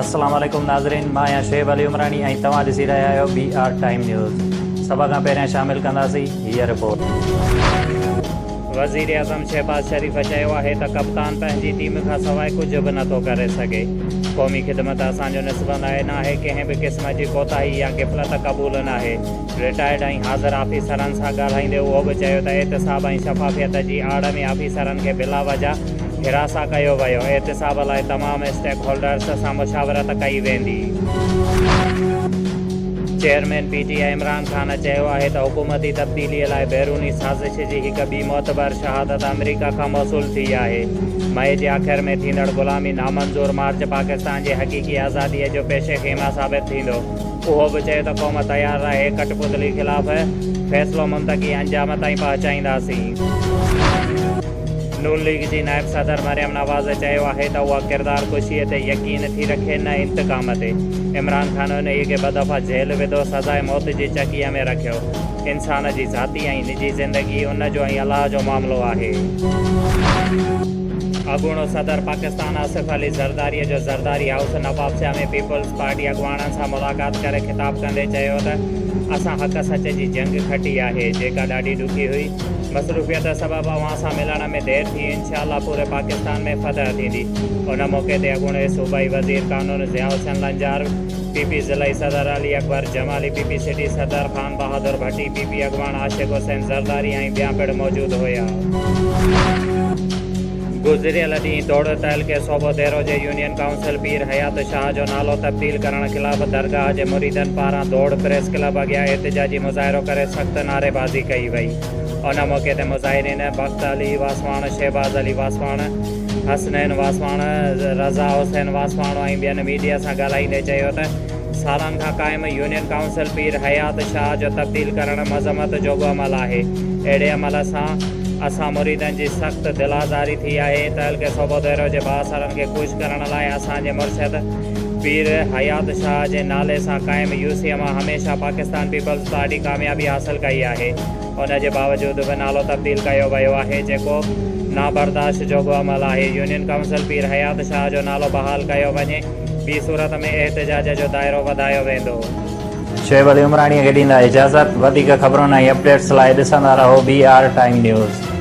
السلام عليڪم ناظرين مان آهيان شعيب علي عمراڻي ۽ توهان ڏسي رهيا آهيو بي آر ٽائيم نيوز سڀ کان پهريان شامل ڪنداسين هيء رپورٽ. وزيراعظم شهباز شريف چيو آهي ته ڪپتان پنهنجي ٽيم کان سواء ڪجهه به نٿو ڪري سگهي، قومي خدمت اسان جو نسبندائي ناهي، ڪنهن به قسم جي ڪوتاهي يا غفلت قبول ناهي، رٽائرڊ ۽ حاضر آفيسرن سان ڳالهائيندي اهو به چيو ته احتساب ۽ شفافيت جي آڙ ۾ آفيسرن کي بلا وجه حراسان ڪيو ويو، احتساب لاء تمام اسٽيڪ هولڊرز سان مشاورت ڪئي ويندي. Chairman P T I Imran Khan چيو آهي ته حڪومتي تبديلي لاء بيروني سازش جي هڪ ٻي معتبر شهادت آمريڪا کان موصول ٿي آهي، مئي جي آخر ۾ ٿيندڙ غلامي نامنظور مارچ پاڪستان جي حقيقي آزادي جو پيش خيمه ثابت ٿيندو. اهو به چيو ته قوم تيار رهي ڪٽ پتلي خلاف فيصلو منطقي انجام تائين پهچائينداسين. نون ليگ جي نائب صدر مريم نواز چيو آهي ته اها ڪردار ڪشي تي يقين ٿي رکي نه انتقام تي، عمران خان انهي کي ٻه دفعا جيل وڌو، سزاء موت جي چڪيء ۾ رکيو، انسان جي ذاتي ۽ نجي زندگي ان جو ۽ الله جو معاملو آهي. اڳوڻو صدر پاڪستان آصف علي زرداري جو Zardari house Nawabshah ۾ peoples party اڳواڻن سان ملاقات ڪري خطاب ڪندي چيو ته اسان حق سچ جي جنگ کٽي آهي جيڪا ڏاڍي ڏکي هئي مصروفيت سبب اوهان سان ملڻ ۾ دير ٿي انشاء الله پوري پاڪستان ۾ فتح ٿيندي ان موقعي تي اڳوڻي صوبائي وزير قانون ضياء حسين لنجار پي پي ضلعي صدر Ali Akbar Jamali P P city صدر خان بهادر ڀٽي پي پي اڳواڻ عاشق حسين زرداري ۽ ٻيا پڻ موجود هيا. گذريل ڏينهن توڙي تعلقي صوبو ديرو جي يونين ڪائونسل پير حيات شاهه جو نالو تبديل ڪرڻ خلاف درگاهه جي مريدن پاران ڌوڙ پريس ڪلب اڳيان احتجاجي مظاهرو ڪري سخت نعريبازي ڪئي وئي ان موقعي تي مظاهرين بخت علي واسواڻ شهباز علي واسواڻ حسنين واسواڻ رضا حسين واسواڻ ۽ ٻين ميڊيا سان ڳالهائيندي چيو ته سالن کان قائم يونين ڪائونسل پير حيات شاهه جو تبديل ڪرڻ مذمت جوڳو عمل آهي. اهڙي عمل سان اسان مريدن جي سخت دل آزاري ٿي آهي. تعلقي صوڀوديرو جي بااثرن کي خوش ڪرڻ لاء اسان جي مرشد پير حيات شاهه جي نالي سان قائم يوسيء مان هميشه پاڪستان پيپلز پارٽي ڪاميابي حاصل ڪئي آهي. ان جي باوجود به نالو تبديل ڪيو ويو آهي جيڪو نابرداشت جوڳو عمل آهي. يونين ڪائونسل پير حيات شاهه جو نالو بحال ڪيو وڃي. ٻي صورت ۾ احتجاج جو دائرو وڌايو ويندو. شعيب علي عمراڻيء کي ڏيندا اجازت. وڌيڪ خبرن ۽ اپڊيٽس لاء ڏسندا رهو بي آر ٽائيم نيوز.